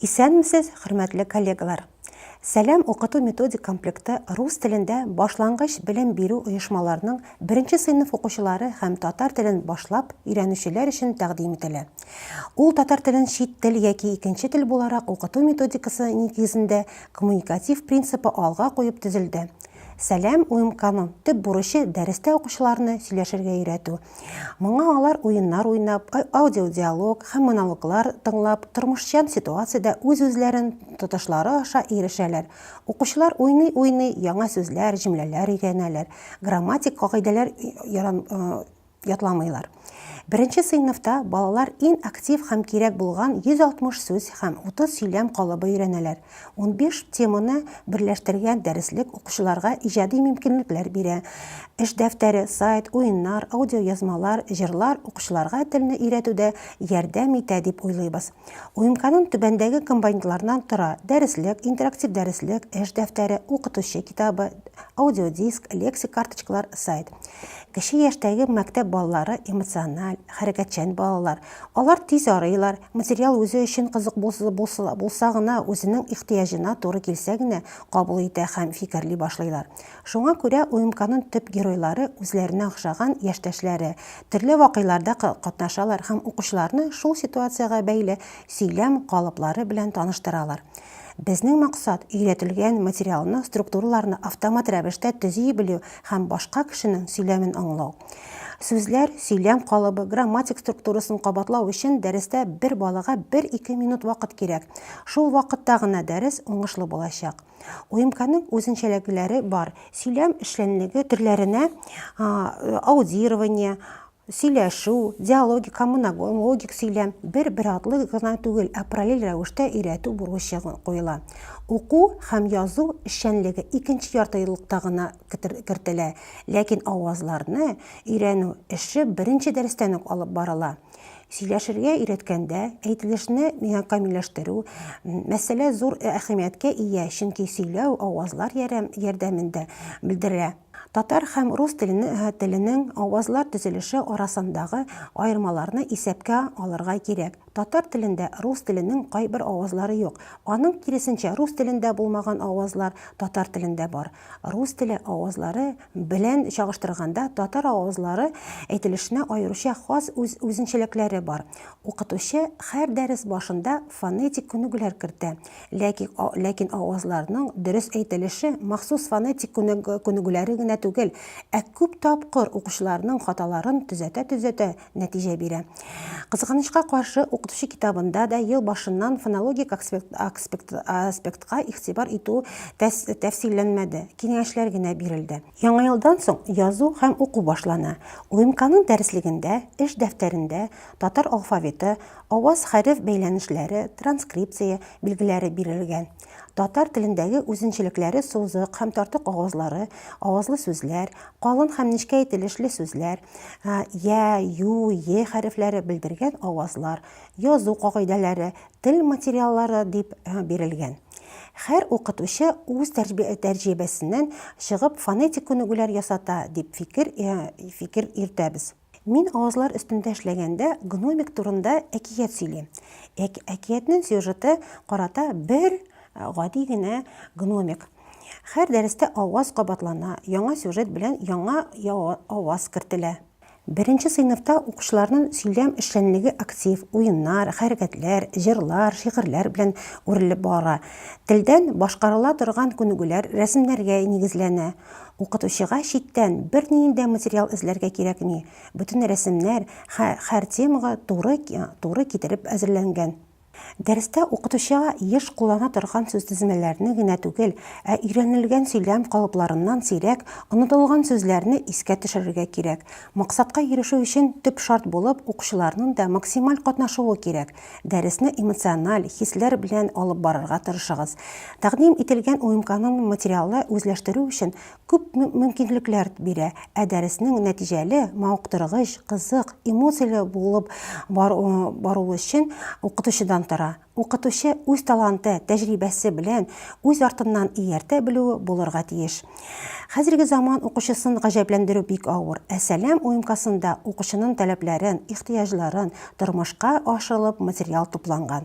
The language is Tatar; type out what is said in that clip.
Исәнмесез, хөрмәтле коллегалар! Сәлам укыту-методик комплекты рус телендә башлангыч белем бирү оешмаларының беренче сыйныф укучылары һәм татар телен башлап өйрәнүчеләр өчен тәкъдим ителә. Ул татар телен чит тел яки икенче тел буларак укыту методикасы нигезендә коммуникатив принципы алга куеп төзелде. Сәлам, УМКның төп бурычы дәрестә укучыларны сөйләшергә өйрәтү. Моңа алар уеннар уйнап, аудиодиалог һәм монологлар тыңлап, тормышчан ситуациядә үз-үзләрен тотышлары аша ирешәләр. Укучылар уйный-уйный яңа сүзләр, җөмләләр өйрәнәләр, грамматик кагыйдәләр ятламыйлар. Беренче сыйныфта балалар иң актив һәм кирәк булган 160 сүз һәм 30 сөйләм калыбы өйрәнәләр. Унбиш теманы берләштергән дәреслек укучыларга иҗади мөмкинлекләр бирә. Эш дәфтәре, сайт, уеннар, аудиоязмалар, җырлар укучыларга телне өйрәтүдә ярдәм итә дип уйлыйбыз. Уемканун түбәндәге компонентлардан тора, дәреслек, интерактив дәреслек, эш дәфтәре, укытучы китабы, аудиодиск, лексик карточкалар, сайт. Кече яшьтәге мәктәп балалары эмоциональ, хәрәкәтчән балалар. Алар тиз арыйлар, материал үзе өчен кызык булса гына, үзенең ихтыяҗына туры килсә генә кабул итә һәм фикерли башлыйлар. Шуңа күрә УМКның төп геройлары, үзләренә охшаган яшьтәшләре. Төрле вакыйларда катнашалар һәм укучыларны шул ситуациягә бәйле сөйләм калыплары белән таныштыралар. Безнең максат, өйрәтелгән материалны, структураларны автомат рәвештә төзи белү, һәм башка кешенең сөйләмен аңлау. Сүзләр, сөйләм калыбы, грамматик структурасын кабатлау өчен дәрестә бер балага бер-ике минут вакыт кирәк. Шул вакытта гына дәрес уңышлы булачак. УМКның үзенчәлекләре бар. Сөйләм эшчәнлеге төрләренә аудирование, Сөйләшү, диалогик, коммунологик сөйләм бер-бер артлы гына түгел, ә параллель рәвештә өйрәтү бурычы куела. Уку һәм язу эшчәнлеге икенче яртыеллыкта гына кертелә, ләкин авазларны өйрәнү эше беренче дәрестән үк алып барыла. Сөйләшергә өйрәткәндә, әйтелешне камилләштерү мәсьәлә зур әһәмияткә ия, чөнки сөйләү авазлар ярдәмендә белдерелә. Татар һәм рус телене теленең авазлар төзелеше арасындагы аермаларны исәпкә алырга кирәк. Татар телендә рус теленең кайбер авазлары юк. Аның киресенчә, рус телендә булмаган авазлар татар телендә бар. Рус теле авазлары белән чагыштырганда, татар авазлары әйтелешенә аеруча хас үз үзенчәлекләре бар. Укытучы һәр дәрес башында фонетик күнегүләр кертә. Ләкин ләкин авазларның дөрес әйтелеше махсус фонетик күнегүләре генә түгел, ә күп тапкыр укучыларның хаталарын төзәтә-төзәтә нәтиҗә бирә. Кызганычка каршы, укытучы китабында да ел башыннан фонологик аспектка игътибар итү тәфсилләнмәде, киңәшләр генә бирелде. Яңа елдан соң язу һәм уку башлана. УМКның дәреслегендә, эш дәфтәрендә татар алфавиты, Аваз-хәреф бәйләнешләре, транскрипция, билгеләре бирелгән. Татар телендәге үзенчелекләре сузык һәм тартык авазлары, авазлы сүзләр, калын һәм нечкә әйтелешле сүзләр, йә, ю, е хәрефләре белдергән авазлар, язу кагыйдәләре, тел материаллары дип бирелгән. Һәр укытучы үз тәҗрибәсеннән чыгып фонетик күнегүләр ясата дип фикер йөртәбез. Мин авызлар өстендә эшләгәндә гномик турында әкият сөйлим. Әк, әкиятнен сюжеты карата бер гади генә гномик. Хәр дәрестә аваз кабатлана, яңа сюжет белән яңа аваз кертелә. Беренче сыйныфта укучыларнын сөйләм эшчәнлеге актив, уеннар, хәрәкәтләр, җырлар, шигырьләр белән үрелеп бара. Телдән башкарыла торган күнегүләр рәсемнәргә нигезләнә. Укытучыга читтән берниндә материал эзләргә кирәкми, бөтен рәсемнәр хә хәр темага туры туры китереп әзерләнгән. Дәрестә укытучыга еш куллана торган сүзтезмәләрне генә түгел, ә өйрәнелгән сөйләм калыпларыннан сирәк онытылган сүзләрне искә төшерергә кирәк. Максатка ирешү өчен төп шарт булып укучыларның да максималь катнашуы кирәк, Дәресне эмоциональ, хисләр белән алып барырга тырышыгыз. Тәкъдим ителгән уем-канун материалы үзләштерү өчен күп мөмкинлекләр бирә, ә дәреснең нәтиҗәле, мавыктыргыч, кызык, эмоцияле булып баруы өчен укытучыдан тора. Укытучы үз таланты, тәҗрибәсе белән үз артыннан ияртә белүе булырга тиеш. Хәзерге заман укучысын гаҗәпләндерү бик авыр. Ә Сәлам уемкасында укучының таләпләрен, ихтыяҗларын тормышка ашырылып материал тупланган.